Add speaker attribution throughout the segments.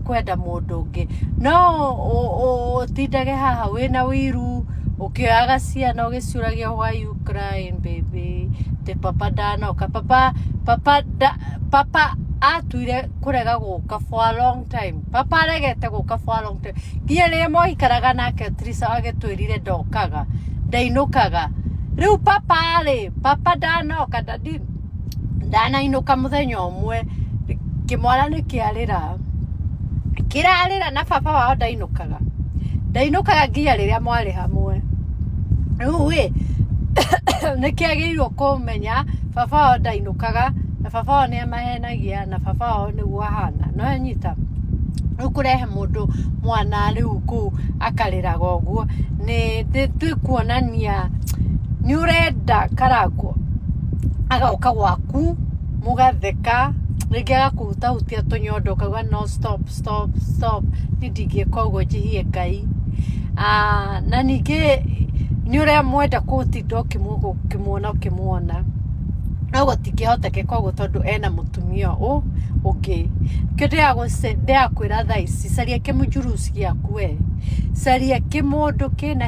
Speaker 1: kwenda mũndũ ũngĩ no ũ- ũ- ũtindage haha wĩna wĩiru ũkĩoyaga ciana ũgĩcuragia why you crying baby te papa ndanoka papa papa da, papa atuire kũrega gũka for a long time papa aregete gũka for a long time nginya rĩrĩa mwaikaraga nake trisa agĩtwĩrire ndokaga ndainũkaga rĩu papa rĩ papa ndanoka ndadi ndanainũka mũthenya ũmwe kĩmwana nĩ kĩarĩra kĩrarĩra na baba wao ndainũkaga ndainũkaga nginya rĩrĩa mwarĩ hamwe rĩu ĩ nĩ kĩagĩrĩirwo kũmenya baba wao ndainũkaga na baba wao nĩ amahenagia na baba wao nĩguo ahana no anyita rĩu kũrehe mũndũ mwana rĩu kũu akarĩraga ũguo nĩ twĩkuonania nĩ ũrenda karangwo agoka gwaku mũgatheka rĩngĩ agakũhutahutia tũnyondo ũkauga no stop stop stop niĩ ndingĩka ũguo njĩhie ngai Ah, na ningĩ nĩ ũrĩa mwenda kũtinda ũkĩmũ- ũkĩmuona ũkĩmuona no gũtingĩhotekeka ũguo tondũ ena mũtumia ũ ũngĩ kĩ ndĩrakwĩra thaa ici caria kĩmũnjuruci gĩaku we caria kĩmũndũ kĩna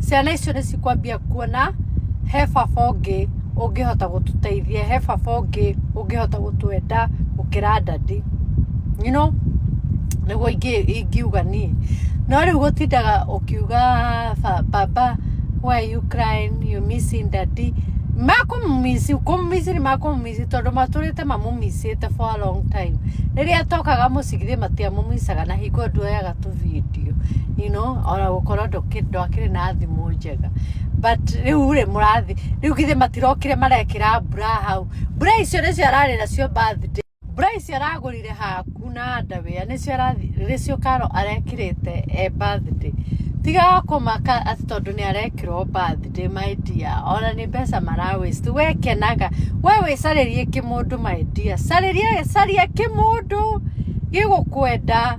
Speaker 1: ciana icio nĩ cikwambia kuona he baba ũngĩ ũngĩhota gũtũteithia he baba ũngĩ ũngĩhota gũtwenda gũkĩra ndadi you know nĩguo ingĩ- ingiuga niĩ no rĩu gũtindaga ũkiuga ba- baba why are you crying you missing daddy makũmumisi kũmumisi nĩ makũmumisi tondũ matũrĩte mamumisĩte for a long time rĩrĩa tokaga mũcigithĩ matiamumisaga na hingo nduoyaga kũrorera tũ video you know ona gũkorwo ndũkĩ- ndwakĩrĩ na thimũ njega but rĩu rĩ mũrathi rĩu githĩ matirokire marekĩra mbura hau mbura icio nĩcio ararĩ nacio birthday mbura icio aragũrire haku na ndawĩa nĩcio arathi- nĩcio karo arekĩrĩte e birthday tiga kũmaka atĩ tondũ nĩ arekĩrwo birthday my dear ona nĩ mbeca mara waste we kenaga we wĩcarĩrie kĩmũndũ my dear carĩria caria kĩmũndũ gĩgũkwenda